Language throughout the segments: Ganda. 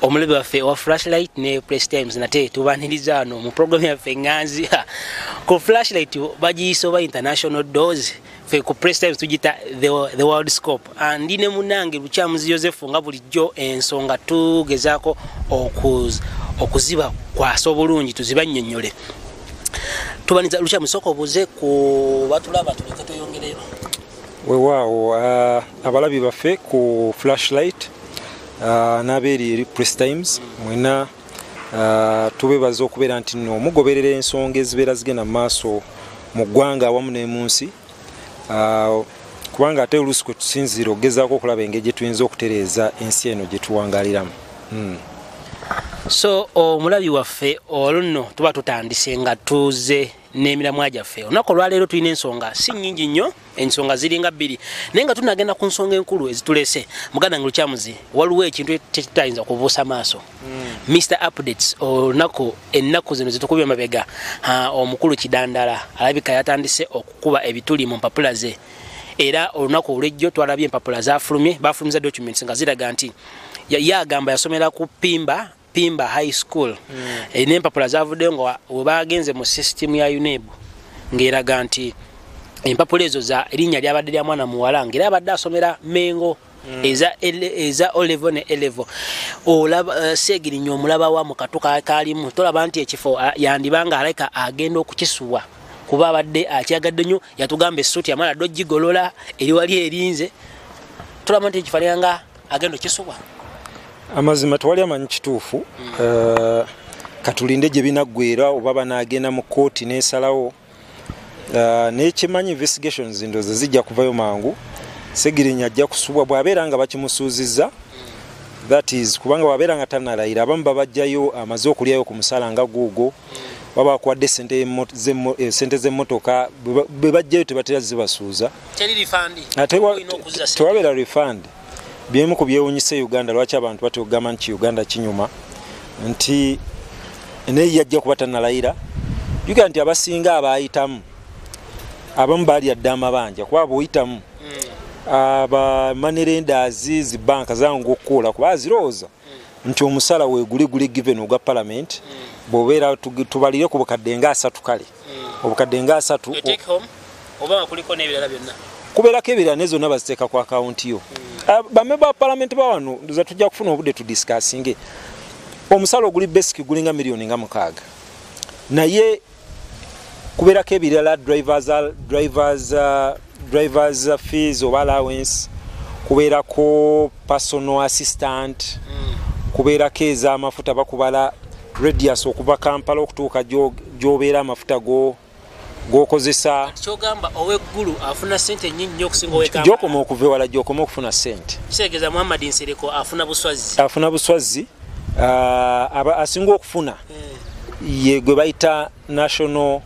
omulabe waffe owa flashlight ne press times nate tubaniriza ano mu program yaffe nganzi ku flashlight bagiyisa oba international dose fe ku press times tugita the, the world scope andi ne munange lukyamuzi yosefu nga bulijjo ensonga tugezaako okuziba kwasa obulungi tuzibannyonnyole tubaniza lukya musoko buze ku batulaba tuleke tuyongereyo wewaawo uh, abalabi baffe ku flashlight uh, n'abeeri eri press times mwena uh, tubebaza okubeera nti no mugoberera ensonga ezibeera zigenda mu maaso mu ggwanga awamu n'emunsi uh, kubanga ate oluusi kwe tusinziira okugezaako okulaba engeri gye tuyinza okutereeza ensi eno gye tuwangaliramu hmm. so omulabi waffe olunno tuba tutandise nga tuze n'emiramwa gyaffe olunaku olwaleero tulina ensonga si nyingi nnyo ensonga ziringa bbiri naye nga tunagenda ku nsonga enkulu ezitulese muganda nga lukyamuzi waliwo ekintu kyetutayinza kubuusa maaso Mr Updates olunaku ennaku zino zitukubye mabega omukulu kidandala alabika yatandise okukuba ebituli mu mpapula ze era olunaku olwejjo twalabye empapula zafulumye bafulumiza documents nga ziraga nti ye agamba yasomera ku pimba pimba high school mm. e, nempapula zavuddeyo nga webagenze mu system ya uneb ngaeraga nti empapula ezo za erinnya lyabadde lya mwana muwala ngaera abadde asomera mengo Mm. eza eza olevo ne elevo olaba uh, eh, segiri nyo mulaba wa mukatu ka kalimu tolaba nti ekifo uh, yandibanga aleka agenda okukisuwa kuba abadde akyagadde nyo yatugamba esuti amala dojji golola eri wali erinze tolaba nti ekifo yanga agenda okukisuwa amazima twali amanyi kituufu mm. uh, katulinde gye binaggwera oba banaagenda mu kkooti n'esalawo uh, nekimanyi investigations ndoze zijja kuvayo mangu segirinya ajja kusubwa bwabeera nga bakimusuuziza that is kubanga wabeera nga tanalayira abamu babajjayo amaze okulyayo ku musala nga guugo baba akuwadde sente eh, z'emmotoka bwe bajjayo tebatera zibasuuza tewabeera refund Byemu ku byewunyisa e Uganda lwaki abantu batya okugamba nti Uganda kinyuma nti naye yajja kuba tanalayira jukira nti abasinga abaayitamu abamu baalya dda amabanja kuba bwoyitamu hmm. abamanerendazi zibanka zangu okukuula kuba azirowooza hmm. nti omusala weguliguli given ogwa palamenti hmm. bwobeera tubalire ku bukadde nga asatu kale hmm. obukadde nga asatu kubeerako ebirala ne zonna baziteeka ku akawunti yo hmm. ah, bamemba ba palamenti bawano ndoza tujja kufuna obudde tudisikasinge omusala oguli basic gulinga miliyoni nga mukaaga naye kubeerako ebirala drivers, drivers uh, drivers fees oba allowance kubeerako personal assistant mm. kubeerako ez'amafuta bakubala radius okuva kampala okutuuka gyobeera amafuta go gwokozesa kyogamba oweggulu afuna sente nyingi nyo okusinga owekamba gyokoma okuva ewala gyokoma okufuna sente kitegeeza muhammad nsereko afuna buswazzi afuna buswazzi uh, asinga okufuna mm. ye gwe bayita national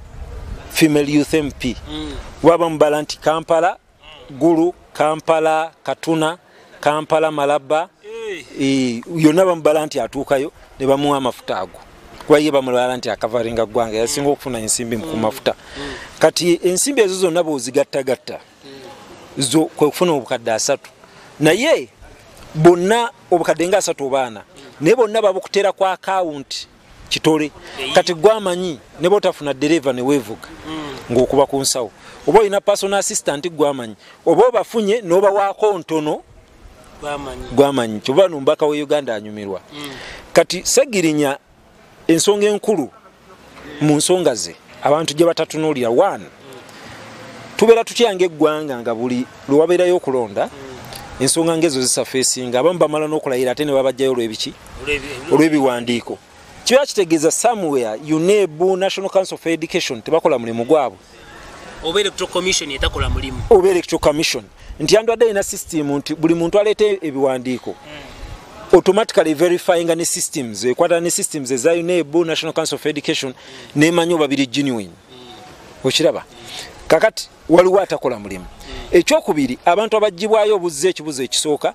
female youth mp mm. waba mubala nti kampala gulu kampala katuna kampala malaba eh. eh, yonna bamubala nti atuukayo ne bamuwa amafuta ago kuba ye bamulala nti akavaringa ggwanga yasinga okufuna ensimbi ku mafuta kati ensimbi ezo zonna bwozigattagatta zo kwe kufuna obukadde asatu naye bonna obukadde nga asatu obaana naye bonna babukuteera ku akawunti kitole kati gwe amanyi ne botafuna dereva ne wevuga mm. ng'okuba ku nsawo oba olina personal assistant gwe amanyi oba obafunye n'obawaako ntono gwamanyi kyoba nomubaka wa uganda anyumirwa mm. kati segirinya ensonga enkulu mu nsonga ze abantu gye batatunulira one tubeera tutya ngaeggwanga nga buli lwewabeerayo okulonda ensonga ngaezo zisafeesinga abamu bamala n'okulayira ate ne babajjayo olwebiki olw'ebiwandiiko kiba kitegeeza somewhere uneb national council of education tebakola mulimu gwabwe oba electoral commission etakola mulimu oba electoral commission nti andwadde alina system nti buli muntu aleeta ebiwandiiko mm. automatically verifying ne systems ekwata ne systems eza UNEB National Council of Education ne manyo babiri genuine okiraba kakati waliwo atakola mulimu ekyokubiri abantu abajjibwayo obuzze ekibuzo ekisooka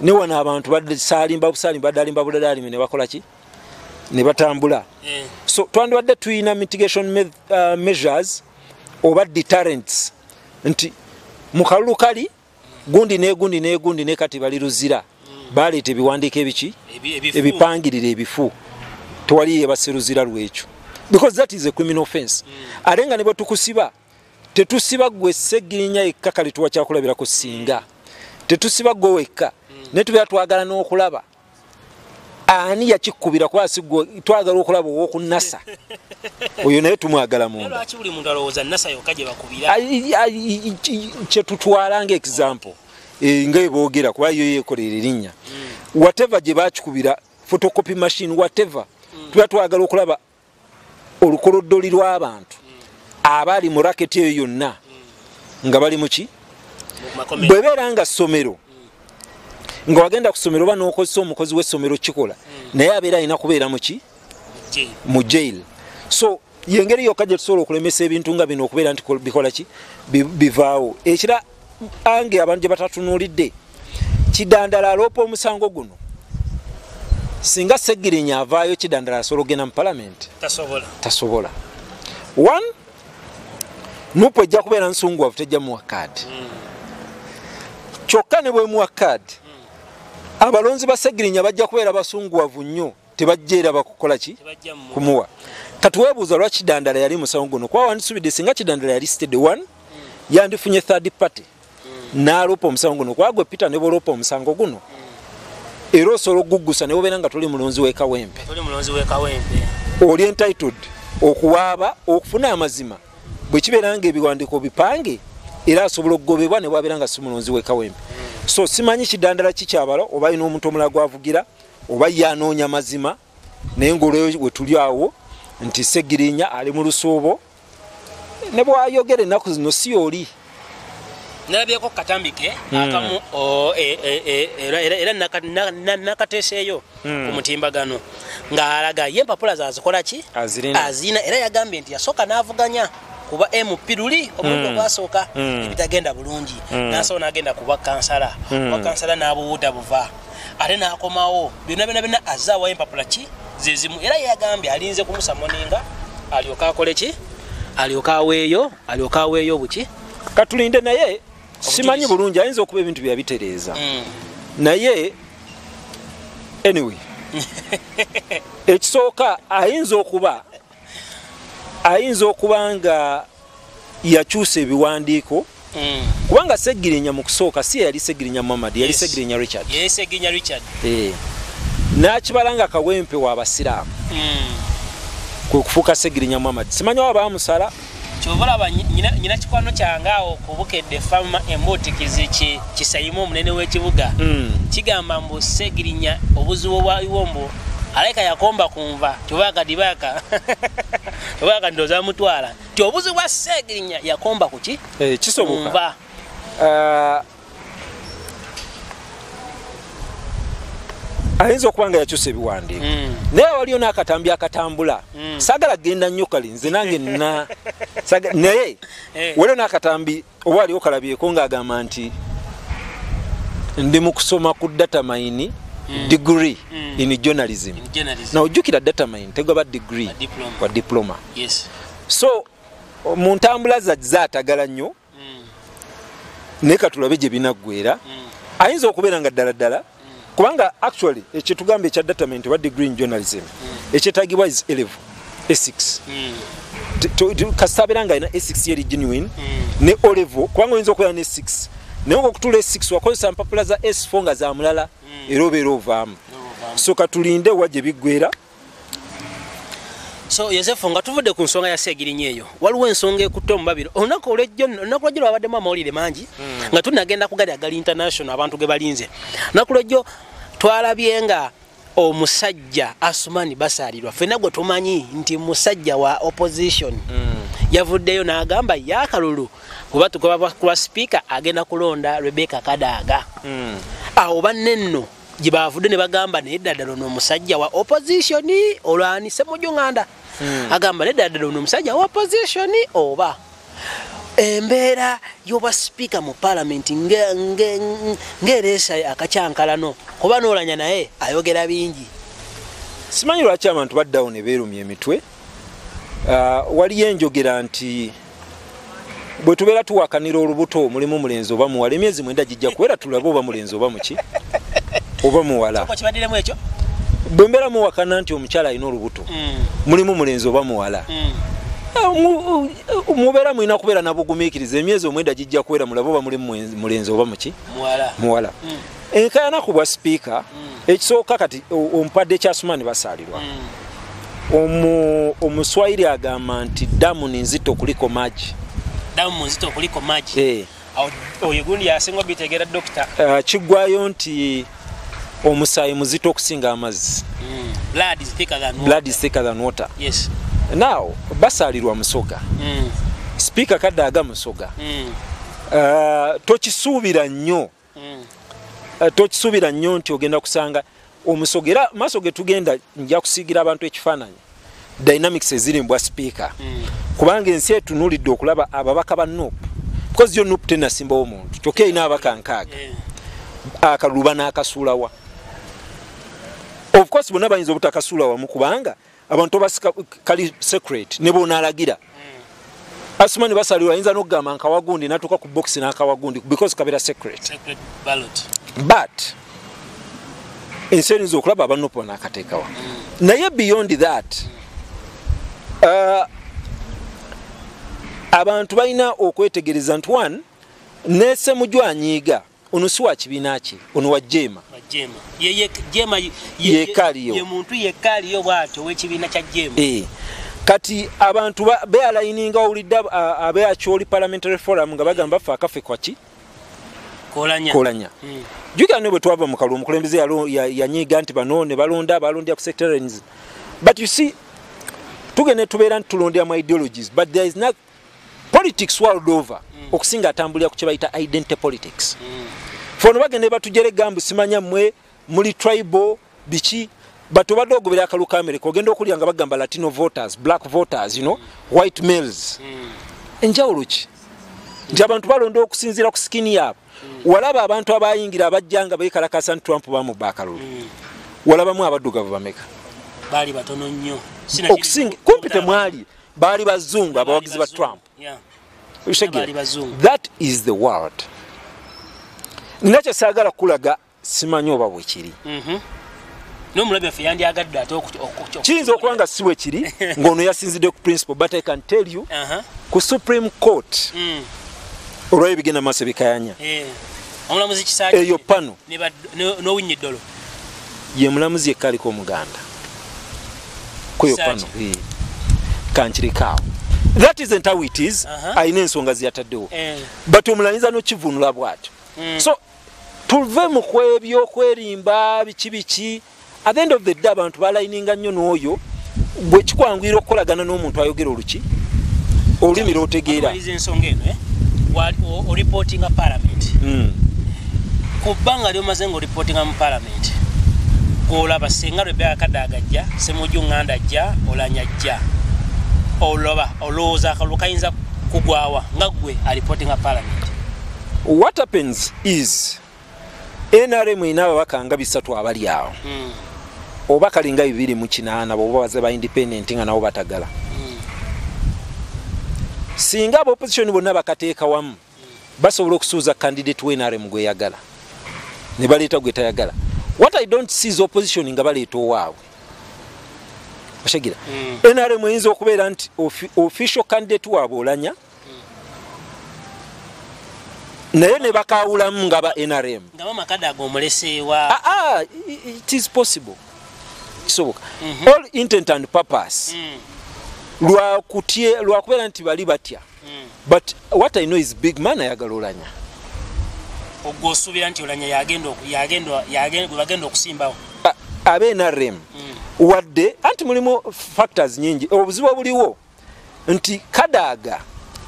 ne wano abantu basalimba busalimba badde alimba buladalimi ne bakola ki ne batambula eh. so twandibadde tulina mitigation me, uh, measures oba deterrents nti mu kalulu kali gundi negundi negundi ne kati bali luzira mm. baleeta ebiwandiiko ebiki ebipangirira ebifu tewali yebasiruzira lwekyo because that is a criminal offense mm. ate nga ne bwe tukusiba tetusiba gwe segirinya yekka kale tuwa kyakulabirako singa tetusiba gwe wekka naye tubeera twagala n'okulaba ani yakikubira kuba sigwe twagala okulaba owoku nasa oyo naye tumwagala mundkyetutwala nga example e, nga ebogera kuba yo yekolera erinnya mm. whatever gye bakikubira photocopy machine whatever mm. tuba twagala okulaba olukoloddoli lw'abantu abali mu raketi eyo yonna nga bali muki bwebeera nga ssomero nga wagenda ku ssomero oba n'okozesa omukozi w'essomero kikola naye abeera alina kubeera muki mu jail so yengeri yokka gye tusobola okulemesa ebintu nga bino okubeera nti bikola ki bivaawo ekira ange abantu gye batatunulidde kidandala aloopa omusango guno singa segirinya avaayo kidandala asobola okugenda mu palamenti tasobola one nupu ejja kubeera nsunguwavu tejja muwa kaadi hmm. kyokka ne bwemuwa kaadi hmm. abalonzi ba segirinya bajja kubeera basunguwavu nnyo tebajja era bakukola ki kumuwa kati webuuza lwa kidandala yali musawo guno kuba wandisubidde singa kidandala yali sted one yandifunye third party naloopa omusango guno kuba gwe peter ne boloopa omusango guno era osobola okugugusa ne bobeera nga toli mulonzi wekawempe oli entitled okuwaaba okufuna amazima bwe kibeera nga ebiwandiiko bipange era asobola okugobebwa ne bwabeera nga si mulonzi wekawempe so simanyi kidandala kikyabala oba alina omuntu omulala gwavugira oba ye anoonya mazima naye ngaolweyo wetuli awo nti segirinya ali mu lusuubo ne bwayogera ennaku zino si yoli nalabyeko katambike hmm. akamu e, e, e, era nakateseeyo ku hmm. mutimbagano ng'alaga ye empapula zazikola ki azirina era yagambye nti yasooka n'avuganya kuba mp luli omulundi hmm. ogwasooka ebitagenda bulungi nasobola n'agenda kuba kansala oba kansala n'abuwuuda buva ate n'akomawo byonna byonna byonna azze awayo empapula ki zezimu era yeyagambye alinze kumusa moninga alyoka akole ki alyoka aweeyo alyoka aweeyo buki katulinde naye simanyi bulungi ayinza okuba ebintu byeyabitereeza mm. naye anyway ekisooka ayinza okuba ayinza okuba nga yakyusa ebiwandiiko Mm. kubanga segirinya mu kusooka si yeyali segirinya muhammad yali segirinya richard eh. nakibala nga kawempe wabasiraamu mm. kwekufuuka segirinya muhammad simanyi wa bamusala kyobalaba nyina kikwano kyange awo kubukedde fama embuutikizi kisayima omunene w'ekibuga hmm. kigamba mbu segirinya obuzibu obwaliwo mbu alaika yakomba kunva tubaka dibaka tubaka ndoza mutwala ti obuzibu bwa segirinya yakomba kuki eh, kisoboka uh, ayinza okuba nga yakyusa ebiwandiiko hmm. naye waliyo n'akatambi akatambula hmm. sagala genda nnyo kali nze nange na naye eh. waliyo n'akatambi oba aliwo kalabyeko ng'agamba nti ndi mu kusoma ku data mayini hmm. degree in journalism na ojjukira data mayini tegaba degree wa diploma so mu ntambula zaatagala nnyo naye katulabe gye binaggwera ayinza okubeera nga ddala ddala kubanga actually ekyetugamba ekya datament oba degree in journalism ekyetagibwa is elevo esix kasita abeera nga alina esix yeri genuine ne olevo kubanga oyinza okubeera ne six naye nga okutula esix wakozesa mpapula za s4 nga zamulala era obeera ovaamu so katulinde wa gye biggwera so yosefu nga tuvudde ku nsonga ya seegirinya eyo waliwo ensonga ekutte omubabiro olunaku olwejjo olunaku lwejjo lwabaddemu amawulire mangi hmm. nga tunagenda kugali agali international abantu ge balinze olunaku lwejjo twalabye nga omusajja asumani basaalirwa fena gwe tumanyi nti musajja wa opposition hmm. yavuddeyo n'agamba yakalulu kuba tugoba kulwa sipiika agenda kulonda rebeka kadaaga hmm. awo banne nno gyebaavudde ne bagamba naye ddala ddala ono omusajja wa opposition olwani semujunganda hmm. agamba naye ddala ddala ono omusajja wa opposition oba embeera y'obwa sipiika mu palamenti ng'ereesa akakyankalano kuba noolanya naye ayogera bingi simanyi lwaki abantu baddawo ne beerumya emitwe ah, waliyo enjogera nti bwe tubeera tuwakanira olubuto mulimu mulenzi oba muwala emyezi mwenda gijja kuwera tulabe oba mulenzi oba muki oba muwala bwe mbeera muwakana nti omukyala alina olubuto mm. mulimu mulenzi oba muwala mm. eh, mubeera mulina kubeera nabugumiikiriza emyezi omwenda gijja kuwera mulabe oba mulimu mulenzi oba muki muwala mm. enkayana ku bwa sipiika mm. ekisooka kati ompadde kya sumani basaalirwa mm. omuswayiri agamba nti damu ninzito kuliko magi damu nzito kuliko magi eh. oyo gundi yasinga obitegeera dokita ah, kiggwayo nti omusaayi muzito okusinga amazzi mm. blood is thicker than water yes now basaalirwa musoga sipiika kadde aga musoga uh, tokisuubira nnyo mm. eh, tokisuubira nnyo nti ogenda kusanga omusoga era maaso ge tugenda nja kusiigira abantu ekifaananyi dynamics eziri mbwa sipiika mm. kubanga ensi etunulidde okulaba ababaka ba nup because yo nup tenasimbawo omuntu kyokka erina ababaka nkaaga akaluba n'akasuulawa ofcourse bonna bayinza obutakasuula wamu kubanga abantu obasika kali secret ne bonalagira hmm. asumani basalirwa ayinza n'okugamba nkawagundi natuuka ku box n'akawagundi because kabera secret but ensi erinza okulaba abanupo nakateekawa hmm. naye beyond that uh, abantu balina okwetegereza nti one nesemujwanyiiga Ono si wa kibiina kye, ono wa Jeema. Jeema yekaaliyo. Ye muntu yekaaliyo bw'atyo ow'ekibiina kya Jeema. Eh. Kati abantu bealayininga owulidde abe Acholi Parliamentary Forum nga bagamba ffe akafe kwaki? Kolanya. Kolanya. Hmm. Jukira ne bwe twava mu kalulu omukulembeze yanyiiga nti bano ne balonda balondya ku sectarians. But you see, tugende tubeera nti tulondya mu ideologies but there is not politics world over mm. okusinga atambulira ku kyebayita identity politics mm. fono bagende batujere gambu simanya mwe muli tribal biki but obadde ogobera akalu ka america ogenda okulya nga bagamba latino voters black voters you know mm. white males mm. enjawulo ki nti abantu balonda okusinziira ku sikini yaabo mm. walaba abantu abayingira abajja nga bekalakasa nti trump bamubba akalulu mm. walabamu abaddugavu bameka baali batono nnyo okusinga kumpi temwali baali bazungu abawagizi ba trump that is the world nina kyesaagala kukulaga simanyi oba bwekiri mhm. kiyinza okuba nga si bwekiri ngaono yasinzidde ku principle but i can tell you uh-huh. ku supreme court mm. olwayo bigenda maaso bikayanya eh. eyo pano ye mulamuzi yekka aliko omuganda kweyo pano kankirikaawo that isn't how it is alina ensonga zeyataddewo eh. but omulanyiza nokivunula bwatyo hmm. so tuve mu kwebyo okwerimba biki biki at the end of the day abantu balayininga nnyo n'oyo gwe kikwanguyira okukolagana n'omuntu ayogera oluki olulimi lwotegeera ensonga eno eh? oripotinga palamenti hmm. ku bbanga lyomaze nga oripotinga mu palamenti gwolaba senga lwebeakada agajja semuju nganda ajja olanya ajja oloba olowooza akalulu kayinza kugwawa nga gwe aripotinga palamenti what happens is nrm erina ababaka nga bisatu abali awo hmm. oba kalinga bibiri mu kinaana boba baze ba independent nga nabo batagala hmm. singa aba opposition bonna bakateeka wamu basobola okusuuza candidate wa nrm gweyagala ne baleeta gwe tayagala what i don't see is opposition nga baleeta owaabwe oshegera hmm. nrm eyinza okubeera nti official candidate waabwe olanya naye ne bakawulamu nga ba nrm nga bamakade ago omuleseewa aa ah, ah, it is possible kisoboka mhm. all intent and purpose mm. lwakutye lwakubeera nti bali batya mm. but what i know is big man ayagala olanya ogwo osuubira nti olanya yagenda okusimbawo ah, abe nrm mm. wadde anti mulimu factors nyingi obuzibu obuliwo nti kadaaga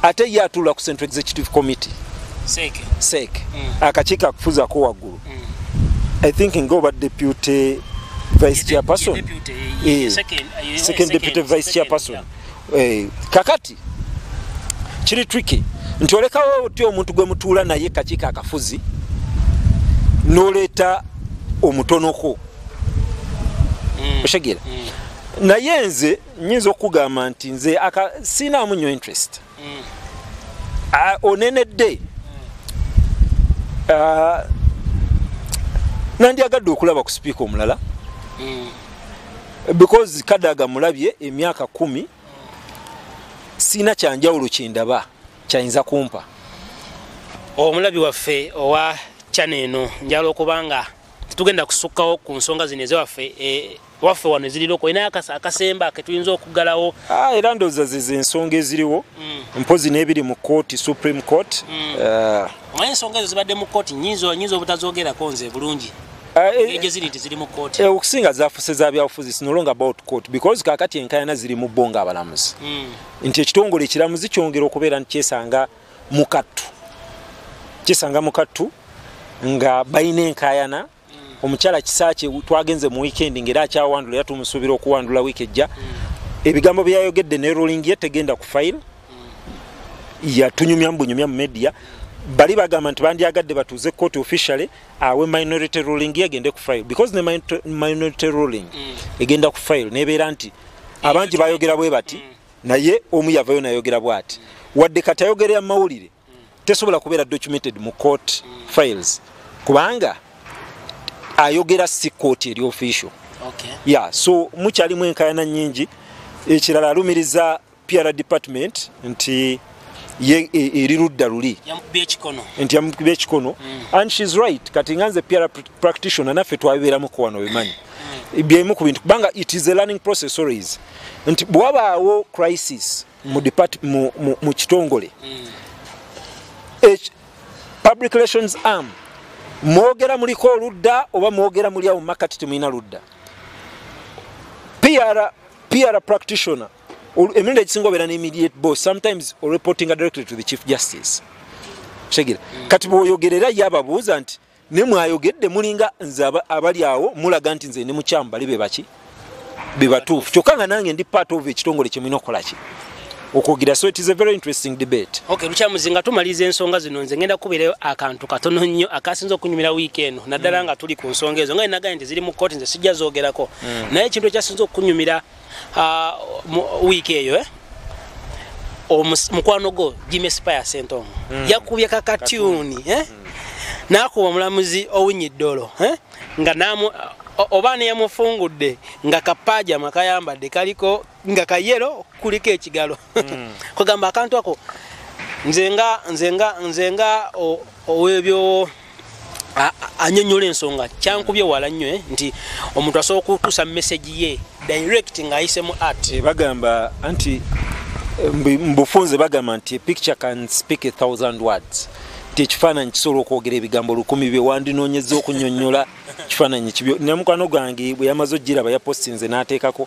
ate ye atuula ku central executive committee seeke seeke mm. akakiiko akufuzako waggulu mm. i think nga oba deputy vice chairperson eh, second deputy vice chairperson eh, kakati kiri tricky nti olekawo otya omuntu gwe mutuula naye kakiiko akafuzi noleeta omutonoko mm. oshegera naye nze nyinza okugamba nti nze aka sinaamu nyo interest mm. uh, onenedde mm. uh, nandyagadde okulaba ku sipiika omulala mm. because kadaga mulabye emyaka kumi mm. siina kyanjawulo kyendaba kyayinza kumpa omulabi waffe owa kyano eno njala okubanga tetugenda kusukkawo ku nsonga zino ezewaffe eh, waffe wano ezirina okuba naye akasemba ke tuyinza okuggalawo ah, era ndowooza zeze ensonga eziriwo mm. mpozi n'ebiri mu kooti supreme court mm. eh. omanyi ensonga ezo zibadde mu kooti nyinza nyinza obutazogerako nze bulungi eh, eh, okusinga zafuse za byabufuzi sinolonga about court because kakati enkayana ziri mu bo nga abalamuzi mm. nti ekitongole ekiramuzi kyongera okubeera nti kyesanga mukattu kyesanga mukattu nga balina enkayana omukyala kisaakye twagenze mu wiikendi ngaera akyawandula era tumusuubira okuwandula wiiki ejja hmm. ebigambo byeyayogedde ne ruling ye tegenda ku fayiro hmm. yatunyumya mubunyumya mu media bali bagamba nti bandyagadde batuuze kooti officially awe minority ruling ye egende ku fayiro because ne minority ruling hmm. egenda ku fayiro nebeera nti abangi bayogera bwe bati naye omu yavayo nayogera bwati wadde kati ayogerera mu mawulire tesobola kubeera documented mu court files kubanga ayogera si court eri official okay. yeah, so mukyalimu enkayana nyingi ekirala alumiriza pr department nti ye e, eri ludda luli nti yamukuba ekikono mm. and shes right kati nga nze pr practitioner naffe twabibeeramuko wano bimanyi mm. byemu ku bintu kubanga it is a learning process always nti bwewabaawo crisis mu depart mu, mu, mu kitongole mm. H, public relations arm mwogera muliko oludda oba mwogera muli awo mumakati temulina ludda PR, PR practitioner emirundi egisinga obeera ne immediate boss sometimes reporting directly to the chief justice kitegeera mm. kati bwoyogerera ye ababuuza nti ne mwayogedde mulinga nze abali awo mulaga nti nze ndi mukyamu bali bebaki bebatuufu kyokka nga nange ndi part of ekitongole kyemulina okukolaki okwogera so it is a very interesting debate okay mukyamuzi nga tumaliza ensonga zino nze ngenda kubeerayo akantu katono nnyo akasinza okunyumira wiiki eno naddala mm. nga tuli ku nsonga ezo nga enagaa nti ziri mu kooti nze sijja zoogerako mm. naye ekintu ekyasinza okunyumira ah, wiiki eyo eh? mukwano gwo jimmy spire sentongo mm. yakubye kakatyuni eh? mm. nakuba omulamuzi owinyi ddolo eh? nga namu oba neyamufungudde nga kapajama kayambadde kaliko nga kayero kuliko ekigalo mm. kugamba akantu ako nze nga nze nga nze nga owebyo anyonyola ensonga kyankubye wala nnyo eh, nti omuntu asobola okutuusa message ye direct ng'ayise mu art eh, bagamba anti eh, mubufunze bagamba nti picture can speak a thousand words nti ekifaananyi kisobola okwogera ebigambo lukumi bye wandinoonyeza okunyonyola kifaananyi kibyo namukwano gwange bwe yamaze okugiraba yapostinze n'ateekako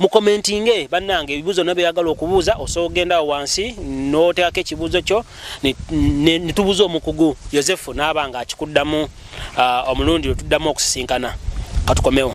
mukomentinge bannange ebibuuzo byonna byeyagala okubuuza osobola okugenda awo wansi n'oteekako ekibuuzo kyo ne tubuuza omukugu yosefu n'aba nga akikuddamu uh, omulundi lwe tuddamu okusisinkana katukomewo